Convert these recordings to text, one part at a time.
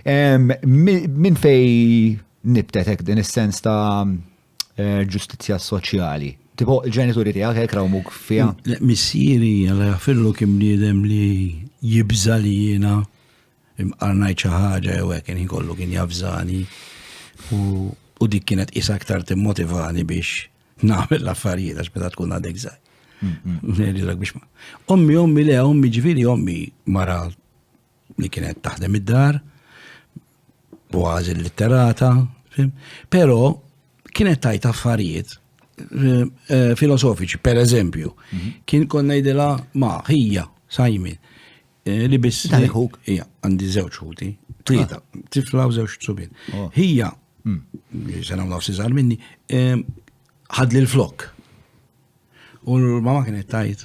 Min fej nibtetek din is-sens ta' eh, ġustizzja soċjali? Tipo, il-ġenituri tiegħek hekk rawmuk fiha? Missieri għala jafillu kien bniedem li jibża li jiena imqarnajt xi ħaġa jew hekk kien kollu kien jafżani u dik kienet is aktar timmotivani biex nagħmel l-affarijiet għax meta tkun għadek żgħar. Ommi, ommi le, ommi ġviri, ommi mara li kienet taħdem id-dar, kważi litterata, pero kienet tajt affarijiet eh, eh, filosofiċi, per eżempju, mhm. kien konna jdela ma ħija, sajmin, eh, li biss. Tal-ħuk. Ija, għandi zewċ ħuti, tlieta, ah. tifla u zewċ tsubin. Oh. Hija, mm. sena u nafsi zar minni, ħadli l-flok. U l-mama kienet tajt,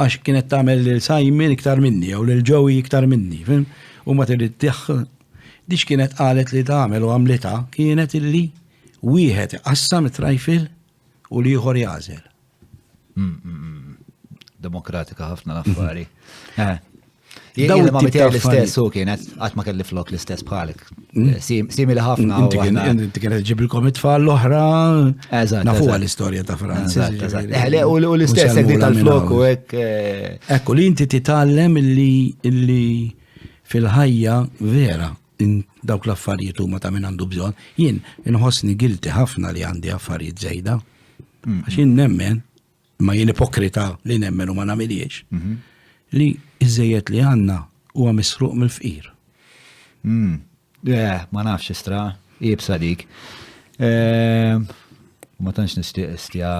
Għax kienet tagħmel lil Simon iktar minni jew lil Joey iktar minni, fim? U ma trid Dix kienet qalet li tagħmel u għamlitha kienet illi wieħed iqassam it-trajfil u li ieħor jażel. Mm, mm, mm. Demokratika ħafna l-affari. Eh. Daw ma mitja l-istess u kienet għat ma kelli flok l-istess bħalik. Hmm? Eh, simili ħafna. Inti kienet ġibilkom it-tfal l-oħra. Eżat. Nafu l-istoria ta' Franz. Eh, u l-istess għek tal-flok u għek. Eh, Ekku li inti titallem li fil-ħajja vera dawk l-affarijiet huma ta' minn għandu bżonn. Jien inħossni gilti ħafna li għandi affarijiet żejda. Hmm. Għax jien nemmen ma jien ipokrita li nemmen u ma namiliex, mhm. li iżżejjed li għanna u għamisruq mill-fqir. Hmm. Eh, ma nafx istra, ibsa dik. Eh, ma tantx nixtieq istja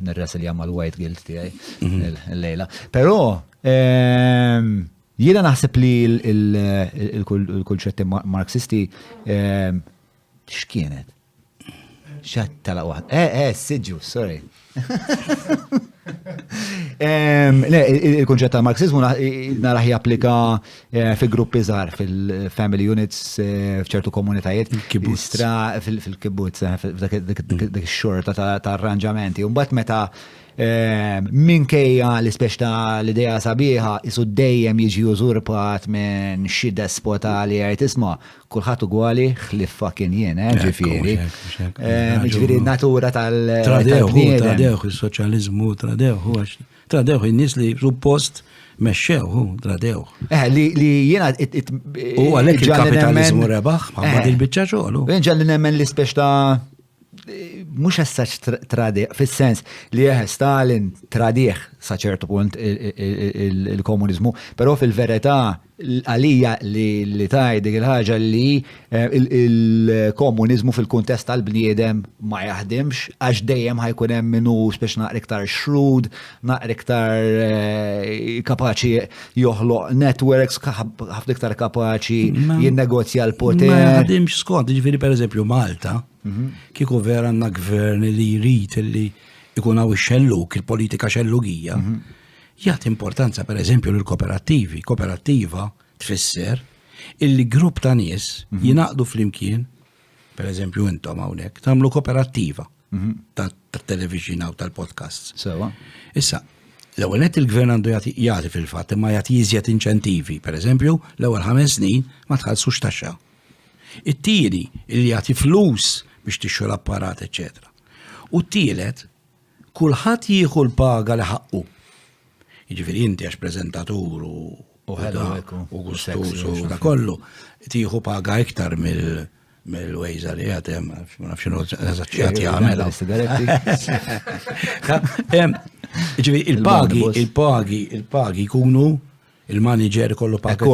nirresilja mal-white guilt tiegħi mhm. l-lejla. Però eh, jiena naħseb li l-kulċetti marxisti x'kienet? Xat tala waħd. Eh, eh, siġu, sorry. Le, il-kunċett ta' marxizmu naraħ japplika eh, fi gruppi żgħar fil-family units eh, f'ċertu komunitajiet. Kistra fil-kibbutz, eh, dik xorta ta' arranġamenti. Mbagħad meta minkejja l-ispex ta' l-ideja sabiħa isu dejjem jiġi użurpat minn xi despota li għajt isma' Kulħadd ugwali ħlief fucking jien, eh, ġifieri. Ġifieri natura tal-bniedem. Tradewh is-soċjaliżmu, tradewh għax tradewh in-nies li suppost mexxewhu, tradewh. Eh, li jiena u għalhekk il-kapitaliżmu rebaħ ma' il-biċċa xogħol. Ġalli nemmen l-ispeċ ta' mhux essaċ tradiq, fis-sens li jeħe Stalin tradiħ sa ċertu punt il-komuniżmu, però fil-verità għalija li taj dik il-ħaġa li eh, il-komuniżmu fil-kuntest tal-bniedem ma jaħdimx għax dejjem ħajkun hemm minnu speċna iktar xrud, naqra iktar eh, kapaċi joħloq networks, ħafna iktar kapaċi jinnegozja l-poter. Ma ħadimx skont, ġifiri per eżempju Malta, mhm. kieku vera għanna gvern li jrid li ikun għaw xelluk, il-politika xellugija, mhm. jgħat importanza per eżempju l-kooperativi, kooperattiva tfisser il-grupp ta' nies mhm. jinaqdu fl-imkien per eżempju intom hawnhekk, tagħmlu koperattiva mhm. tat-television u tal-podcasts. Sewa. Issa, l-ewwel qed il-gvern għandu jagħti fil-fatt imma jagħti jiżjed inċentivi, per eżempju, l-ewwel ħames snin ma tħallsux taxxa. It-tieni li jagħti flus biex tixxu l-apparat, eċċetera. U t-tielet, Kulħadd jieħu l-paga li ħaqqu. Jiġifieri inti għax preżentatur u u gustuż u da kollu, tieħu paga iktar mill- mill-wejza li għatem, ma nafx xinu għazzaċċijat jgħamela. Ġivi, il-pagi, il-pagi, il-pagi kunu il-manager ikollu paket.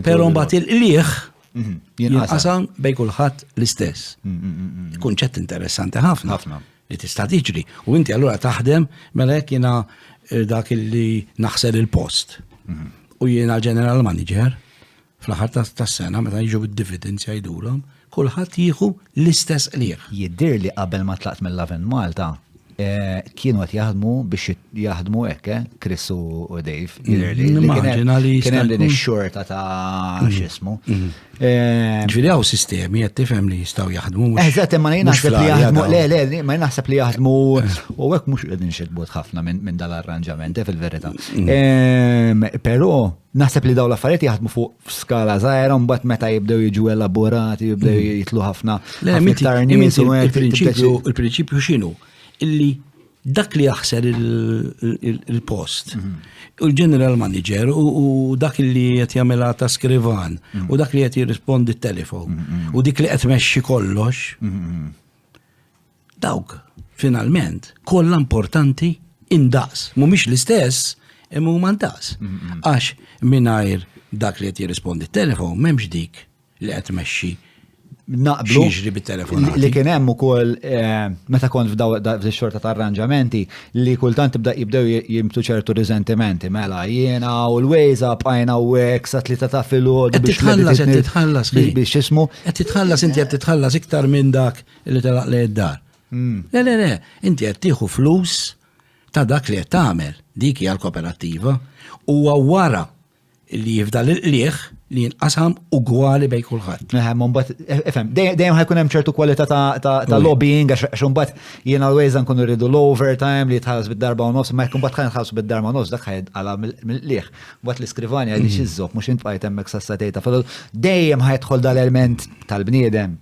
Pero mbagħad il-qliħ mhm, jinqasam bej kulħadd l-istess. Mm, mm, mm, Kunċett interessanti ħafna ħafna li tista' tiġri. U inti allura taħdem mela hekk jiena eh, dak li naħsel il-post. Mhm. U jiena ġeneral manager. Fl-aħħar tas-sena meta jiġu d-dividends jgħidulhom, kulħadd jieħu l-istess qligħ. Jidhir li qabel ma tlaqt mill-Lovin Malta, Eh, kienu għat jaħdmu biex jaħdmu ekke, eh, Chris u Dave. Mm, Immaġina li. Kienem din xorta ta' mm. xismu. Mm. Eh, Ġviri għaw sistemi għat tifem li jistaw jaħdmu. Eżat, ma jnaħseb li jaħdmu, le, le, ma jnaħseb li jaħdmu, u għek mux għedin xedbot ħafna minn dal-arranġament, fil-verita. Pero, Naħseb li daw l-affarijiet jaħdmu fuq skala żgħira mbagħad meta jibdew jiġu elaborati, jibdew mhm. jitlu ħafna. Il-prinċipju x'inhu? Illi dak li jaħser il-post. Mhm. U l-general manager u dak li qed jagħmilha ta' skrivan mhm. u dak li qed jirrispondi t-telefon u dik li qed mexxi kollox Dawk, finalment, kollha importanti indaqs. Mhumiex l-istess, imma huma ndaqs. Għax mingħajr dak li qed jirrispondi t-telefon m'hemmx dik li qed tmexxi naqblu jiġri bit-telefon. Li kien hemm ukoll eh, meta kont f'daw xorta ta' arranġamenti li kultant tibda jibdew jimtu ċertu riżentimenti mela jiena u l-wejza bqajna u hekk sa tlieta ta' filgħod biex titħallas qed titħallas biex ismu. Qed titħallas inti qed titħallas iktar minn dak li telaq lejn id-dar. Hmm. Le, le, le, inti qed tieħu flus ta' dak li qed tagħmel, dik hija l-koperattiva, huwa wara li jifda l qliħ li jinqasam ugwali bej kulħadd. Eħem, mbagħad e, efhem, dejjem ħajkun hemm ċertu kwalità ta' lobbying għax imbagħad jien always nkunu rridu l-overtime li jitħallas bid-darba u nofs, ma jkun mbagħad ħajn bid-darba u nofs dak ħajn għala mill-qliħ. Mbagħad l-iskrivani għadix mm. iżżoq mhux int bqajt hemmhekk sassatejta. Dejjem ħajtħol dal-element tal-bniedem